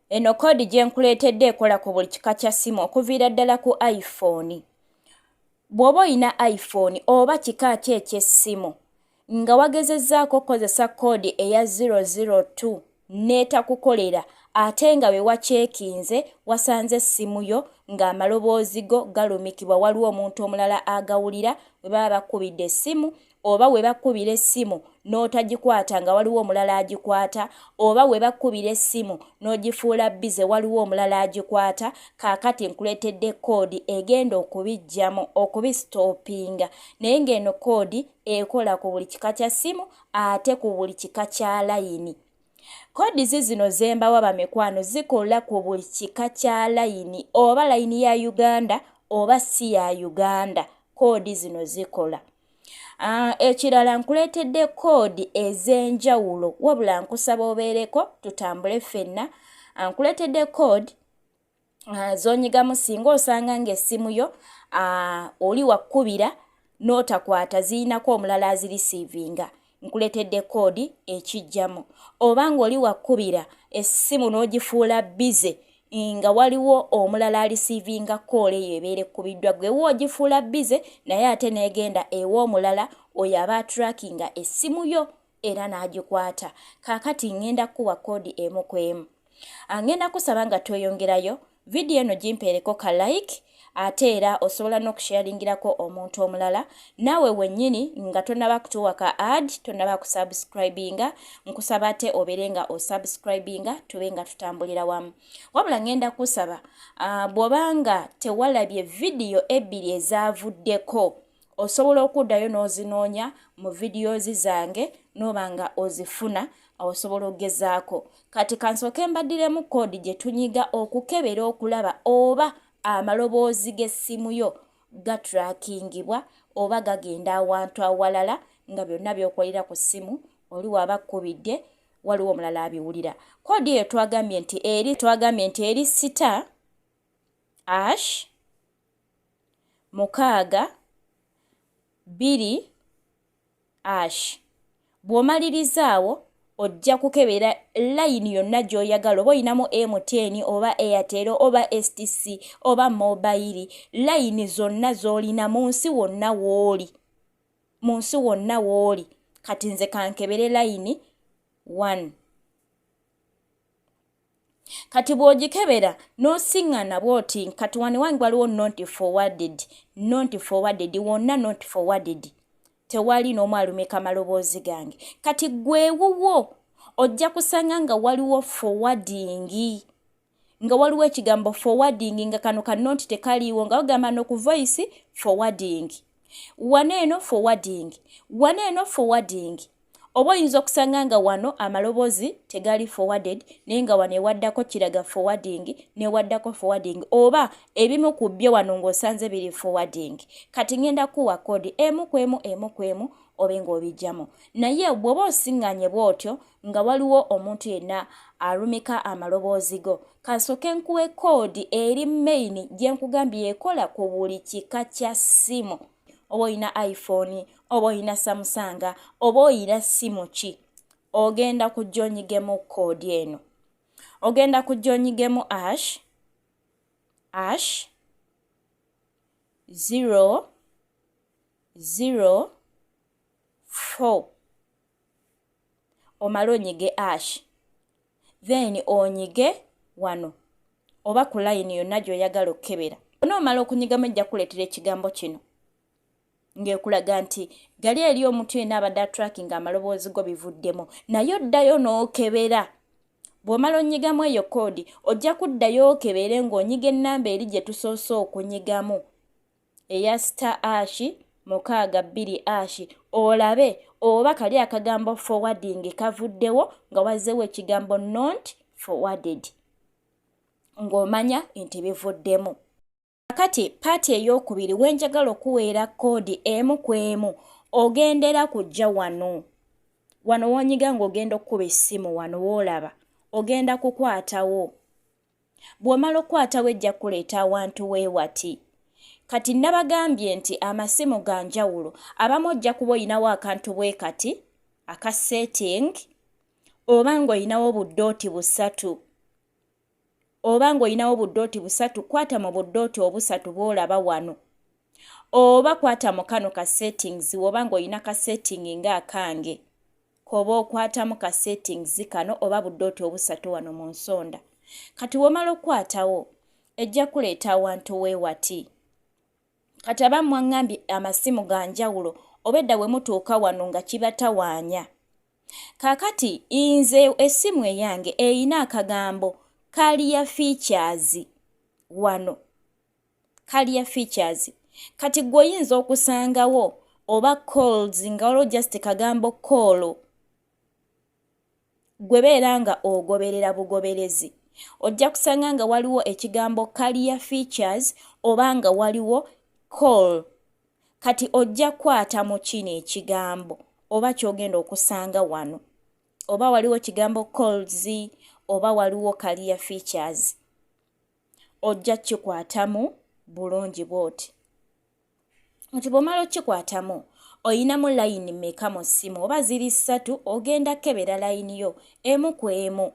Eno koodi gye nkuleetedde ekola ku buli kika kya ssimu okuviira ddala ku iPhone. Bw'oba olina iPhone oba kika ki eky'essimu nga wagezezzaako okukozesa koodi eya 002 n'etakukolera ate nga bwe wakyekinze wasanze essimu yo ng'amaloboozi go galumikibwa waliwo omuntu omulala agawulira bwe baba bakubidde essimu oba we bakkubira essimu n'otagikwata nga waliwo omulala agikwata oba we bakkubira essimu n'ogifuula bize waliwo omulala agikwata kaakati nkuleetedde koodi egenda okubijjamu okubisitoopinga naye ng'eno koodi ekola ku buli kika kya ssimu ate ku buli kika kya layini Kodi zizino zembawa bamikwano zikola ku buli kika kya layini oba layini ya Uganda oba si ya Uganda koodi zino zikola. Ah, ekirala nkuleetedde koodi ez'enjawulo wabula nkusaba obeereko tutambule ffenna ah, nkuleetedde koodi ah, zonyigamu singa osanga ng'essimu yo oli wakkubira n'otakwata ziyinako omulala azirisiivinga nkuletedde koodi ekijjamu oba ng'oli wakkubira essimu n'ogifuula bize nga waliwo omulala alisiivinga koola eyo ebeera ekkubiddwa gwe wa ogifuula bize naye ate n'egenda ewa omulala oyo aba atrakinga essimu yo era n'agikwata kaakati ŋŋenda kukuwa koodi emu ku emu angenda kusaba nga tweyongerayo vidiyo eno gimpeereko ka like ate era osobola n'okusharingirako omuntu omulala naawe wennyini nga tonaba kutuwa ka ad tonaba kusubscribinga nkusaba ate obeere nga osubscribinga tube nga tutambulira wamu wabula ngenda kusaba uh, bw'oba nga tewalabye vidiyo ebbiri ezavuddeko osobola okuddayo n'ozinoonya mu vidiyozi zange n'oba nga ozifuna osobola okugezaako kati kansooke mbaddiremu koodi gye tunyiga okukebera okulaba oba amaloboozi g'essimu yo gatrakingibwa oba gagenda awantu awalala nga byonna byokolera ku ssimu oli waaba kkubidde waliwo omulala abiwulira koodi eyo twagambye nti eri twagambye nti eri sita ash mukaaga bbiri ash bw'omaliriza awo ojja kukebera layini yonna gy'oyagala oba olinamu mtn oba airtel oba stc oba mobayiri layini zonna z'olina mu nsi wonna wooli mu nsi wonna wooli kati nze kankebere layini one kati bw'ogikebera n'osiŋŋana bw'oti kati wano ewange waliwo not forwarded not forwarded wonna not forwarded tewali n'omu alumika amaloboozi gange kati gwewuwo ojja kusanga nga waliwo forwardingi nga waliwo ekigambo forwarding nga kano kanonti tekaliiwo nga bagamba nokuvoice forwarding wano eno forwarding wano eno forwarding oba oyinza okusanga nga wano amaloboozi tegali forwarded naye nga wano ewaddako kiraga forwarding newaddako forwarding oba ebimu ku byo wano ng'osanze biri forwarding kati ngenda kuwa kodi emu ku emu emu ku emu obe ng'obijjamu naye bw'oba osiŋŋanye bw'otyo nga waliwo omuntu yenna alumika amaloboozi go kansooke nkuwe koodi eri main gye nkugambye ekola ku buli kika kya ssimu oba olina iphone oba olina samusanga oba olina ssimu ki ogenda kujja onyigemu koodi eno ogenda kujja onyigemu ash ash zero zero four omale onyige ash then onyige wano oba ku layini yonna gy'oyagala okukebera ona omala okunyigamu ejja kuleetera ekigambo kino ng'ekulaga nti gali eri omuntu yenna abadde atrakinga amaloboozi go bivuddemu naye oddayo n'okebera bw'omala onyigamu eyo koodi ojja kuddayo okebere ng'onyiga ennamba eri gye tusoose okunyigamu eya star ashi mukaaga bbiri ashi olabe oba kali akagambo forwarding kavuddewo nga wazzewo ekigambo not forwarded ng'omanya nti bivuddemu kakati paati ey'okubiri wenjagala okuweera koodi emu ku emu ogendera kujja wano wano wonyiga ng'ogenda okukuba essimu wano woolaba ogenda kukwatawo Bw'omala okukwata wejja kuleeta awantu weewati. Kati nabagambye nti amasimu ga njawulo abamu ojja kuba olinawo akantu bwe kati aka setting oba ng'olinawo buddooti busatu oba ng'olinawo buddooti busatu kwata mu buddooti obusatu bw'olaba wano oba kwata mu kano ka settings woba ng'olina ka setting nga akange. koba okwatamu ka settings kano oba budooti obusatu wano mu nsonda kati womala okukwatawo ejja kuleeta awantu weewati kati aba mwaŋŋambye amasimu ga njawulo obedda bwe mutuuka wano nga kibatawaanya kaakati nze essimu eyange erina akagambo kaliya fiikyaazi wano career features kati gwe oyinza okusangawo oba calls nga waliwo just kagambo call gwe beera nga ogoberera bugoberezi ojja kusanga nga waliwo ekigambo career features oba nga waliwo call kati ojja kwata mu kino ekigambo oba kyogenda okusanga wano oba waliwo kigambo calls oba waliwo career features ojja kukikwatamu bulungi bwoti nti bwomala okikwatamu oyinamu layini meka mu ssimu oba ziri ssatu ogenda kukebera layini yo emu ku emu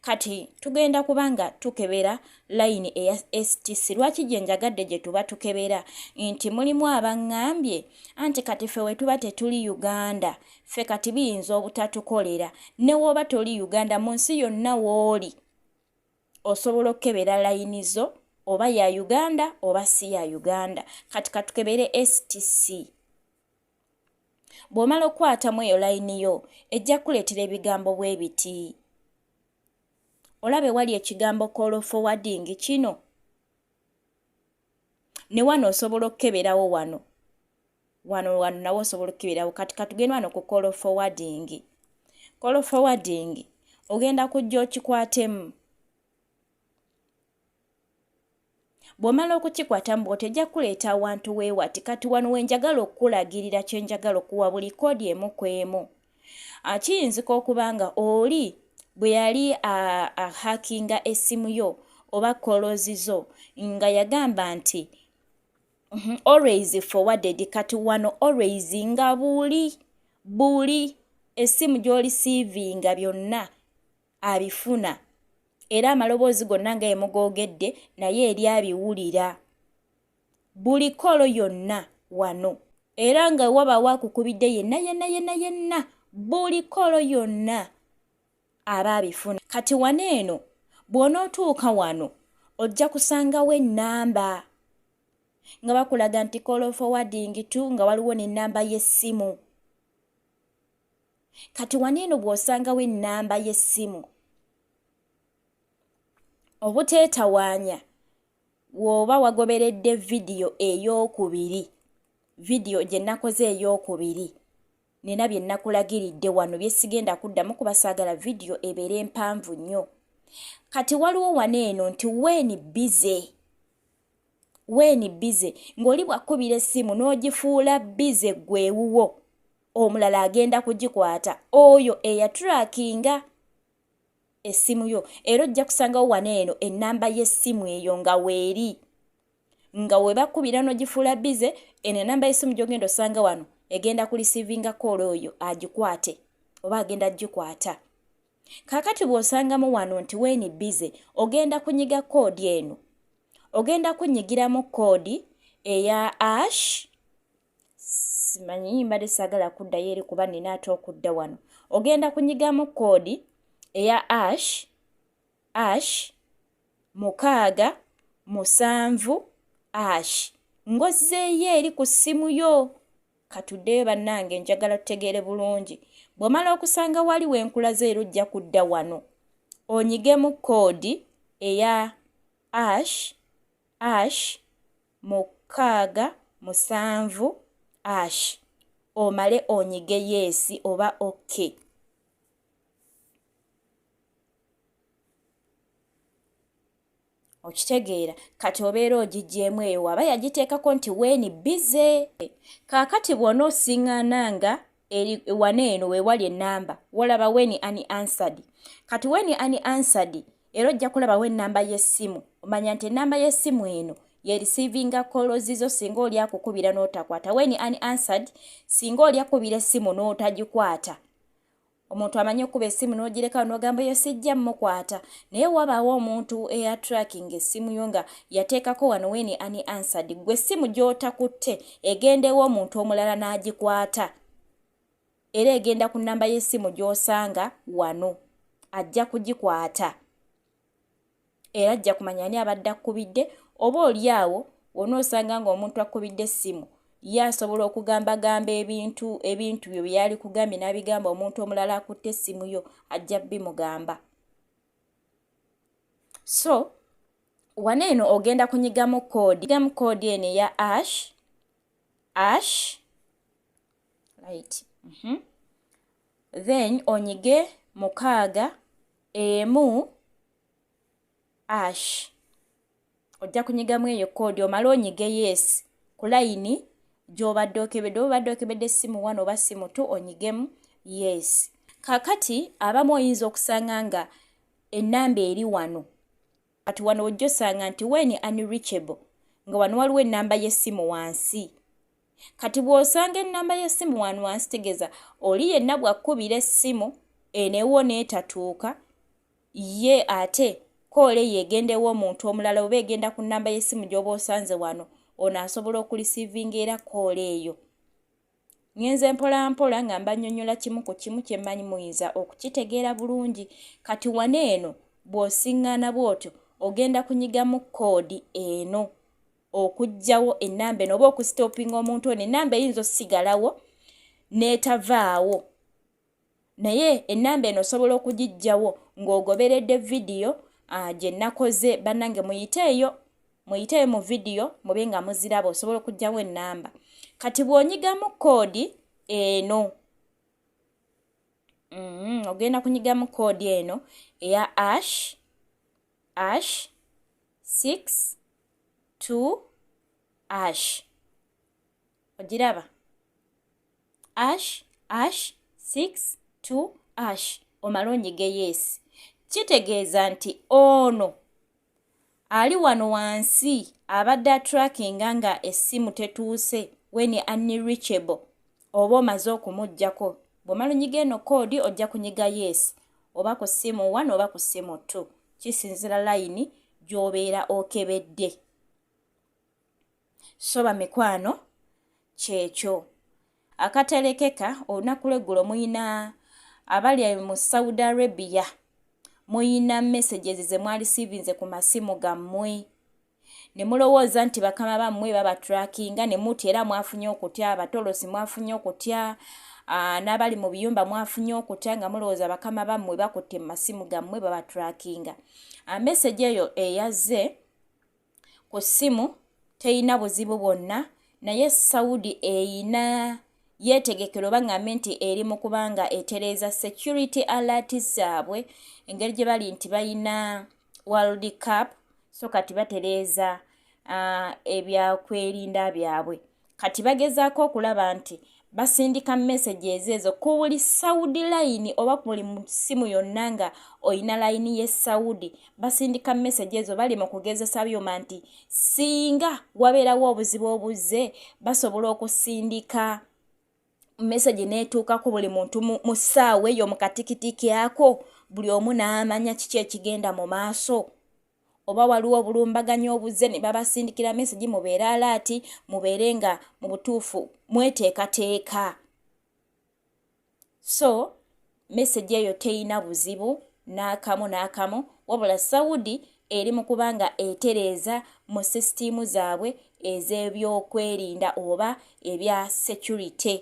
kati tugenda kuba nga tukebera layini eya stc lwaki gye njagadde gye tuba tukebera nti mulimu abaŋŋambye anti kati ffe wetuba tetuli uganda ffe kati biyinza obutatukolera newooba toli uganda mu nsi yonna wooli osobola okukebera layini zo oba ya uganda oba si ya uganda kati katukebere stc bw'omala okukwatamu eyo layini yo ejja kukuleetera ebigambo bwe biti olaba ewali ekigambo kolofowadingi kino ne wano osobola okukeberawo wano wano wano nawe osobola okukeberawo kati katugenda wano ku call forwarding call forwarding ogenda kujja okikwatemu bw'omala okukikwata mbu otejja kukuleeta awantu weewati kati wano wenjagala okukulagirira kyenjagala okuwa buli koodi emu ku emu Ah, kiyinzika okuba nga oli bwe yali ahakinga ah, ah, essimu yo oba kolozi zo nga yagamba nti mhm, always forwarded kati wano always nga buli buli essimu gy'oli siivinga byonna abifuna era amaloboozi gonna nga emugoogedde naye eri abiwulira buli kolo yonna wano era nga wabaawo akukubidde yenna yenna yenna yenna buli kolo yonna aba abifuna kati wano eno bw'onootuuka wano ojja kusangawo ennamba nga bakulaga nti kolo fowadingi tu nga waliwo n'ennamba y'essimu kati wano eno bw'osangawo ennamba y'essimu obuteetawaanya Wooba wagoberedde vidiyo ey'okubiri, vidiyo gye nakoze ey'okubiri, nina bye nakulagiridde wano bye sigenda kuddamu kuba saagala vidiyo ebeere empanvu nnyo. Kati waliwo wano eno nti weeni bize. Weeni bize. Ng'oli bw'akkubira essimu n'ogifuula bize ggwe ewuwo, omulala agenda kugikwata. Oyo eyaturakinga. essimu yo era ojja kusangawo wano eno ennamba y'essimu eyo nga weeri nga webakubira nogifuula bize eno enamba y'essimu gyogenda osanga wano egenda ku lisiivinga koola oyo agikwate oba agenda gikwata kakati bw'osangamu wano nti weeni bize ogenda kunyiga koodi eno ogenda kunyigiramu koodi eya ash simanyi mbadde saagala kuddayo eri kuba nina ate okudda wano ogenda kunyigamu koodi eya ash ash mukaaga musanvu ash ngozzeeyo eri ku ssimu yo katuddeyo bannange njagala tutegeere bulungi bw'omala okusanga wali wenkulaze era ojja kudda wano onyigemu koodi eya ash ash mukaaga, musanvu, ash omale onyige yes oba ok. Okitegeera kati obeera ogigyemu eyo waba yagiteekako nti weeni bize. Kaakati bw'onoosiŋŋaana nga eri wana eno wewali enamba wolaba weni ani ansadi kati weni ani ansadi era ojja kulaba wo enamba y'essimu omanya nti enamba y'essimu eno yerisiivinga kolozi zo singa oli akukubira n'otakwata weni ani ansadi singa oli akubira essimu n'otagikwata omuntu amanyi okuba esimu nogirekawo nogamba eyo sijja mukwata naye wabaawo omuntu eya tracking esimu yo nga yateekako wano weni ani ansad gwe esimu gyotakutte egenda ew'omuntu omulala n'agikwata era egenda ku nnamba y'essimu gy'osanga wano ajja kugikwata era ajja kumanya ani abadde akkubidde oba oli awo wona osanga ng'omuntu akkubidde essimu ye asobola okugambagamba ebintu ebintu byo bye yali kugambye n'abigamba omuntu omulala akutte essimu yo ajja bimugamba so wano eno ogenda kunyigamu koodi nyigamu koodi eno eya ash ash right mm -hmm. then onyige mukaaga emu ash ojja kunyigamu eyo koodi omale onyige yes ku layini gy'obadde okebedde oba obadde okebedde essimu one oba ssimu two onyigemu yes kakati abamu oyinza okusanga nga ennamba eri wano Kati wano ojja osanga nti when unreachable nga wano waliwo ennamba y'essimu wansi kati bw'osanga ennamba y'essimu wano wansi tegeza oli yenna bw'akkubira essimu enewo n'etatuuka ye ate koole eyo egendewo omuntu omulala oba egenda ku nnamba y'essimu gy'oba osanze wano ono asobola okulisiivinga era koole eyo Ngenze mpolampola nga mbanyonyola kimu ku kimu kye mmanyi muyinza okukitegeera bulungi kati wana eno bw'osiŋŋaana bw'otyo ogenda kunyigamu koodi eno okugyawo ennamba eno oba okusitoopinga omuntu ono ennamba eyinza osigalawo n'etavaawo. naye ennamba eno osobola okugijjawo ng'ogoberedde vidiyo ah, gye nnakoze bannange muyiteeyo muyiteeyo mu vidiyo mube nga muziraba osobola okugjawo ennamba kati bw'onyigamu koodi eno mm-hmm, ogenda kunyigamu koodi eno eya ash ash six two ash ogiraba ash ash 6 2 ash omala onyiga yeesi kitegeeza nti ono ali wano wansi abadde atrackinga nga essimu tetuuse weni unreachable oba omaze okumugjako bwomala onyiga eno koodi ojja kunyiga yeesi oba ku ssimu one oba ku ssimu two kisinzira layini gy'obeera okebedde okay, so bamikwano kyekyo akatelekeka olunaku lweggulo muyina abali mu saudi arabia muyina messages zemwali sivinze ku masimu gammwe ne mulowooza nti bakama bammwe babatrakinga ne muti era mwafunye okutya abatolosi mwafunye okutya n'abali mu biyumba mwafunye okutya nga mulowooza bakama bammwe bakutte mu masimu gammwe babatrakinga message eyo eyazze ku ssimu teyina buzibu bwonna naye saudi eyina yeetegekera oba ngambe nti eri mu kubanga etereeza security alert zaabwe engeri gye bali nti balina world cup so kati batereeza uh, ebyakwerinda byabwe kati bagezaako okulaba nti basindika messages ezo ku buli saudi layini oba ku buli simu yonna nga olina layini ye saudi basindika message ezo bali mu kugezesa byuma nti singa wabeerawo obuzibu obuzze basobola okusindika message n'etuuka ku buli muntu mu ssaawa eyo mu katikitiki ako buli omu n'amanya kiki ekigenda mu maaso oba waliwo obulumbaganyi obuzze ne babasindikira mesegi mubeere alaati mubeere nga mu butuufu mweteekateeka so mesegi eyo teyina buzibu n'akamu n'akamu wabula saudi eri mu kuba nga etereeza mu sisitiimu zaabwe ez'ebyokwerinda oba ebya security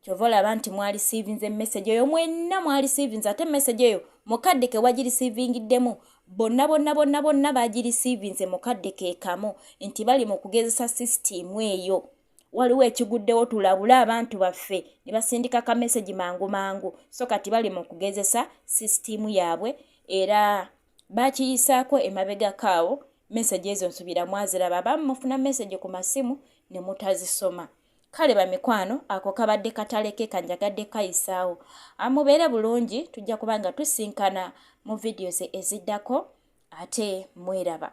kyova olaba nti mwarisiivinze message eyo mwenna mwarisiivinze ate message eyo mukadde ke wagirisiivingiddemu bonna bonna bonna bonna bagirisiivinze mukadde ke kamu nti bali mu kugezesa sisitiimu eyo waliwo ekiguddewo tulabule abantu baffe ne basindika ka message mangu mangu so kati bali mu kugezesa sisitiimu yaabwe era baakiyisaako emabegako awo meseji ezo nsubira mwaziraba aba mufuna meseji ku masimu ne mutazisoma kale bamikwano ako kabadde katale ke kanjagadde kayisaawo amubeere bulungi tujja kuba nga tusinkana mu vidiyo ze eziddako ate mweraba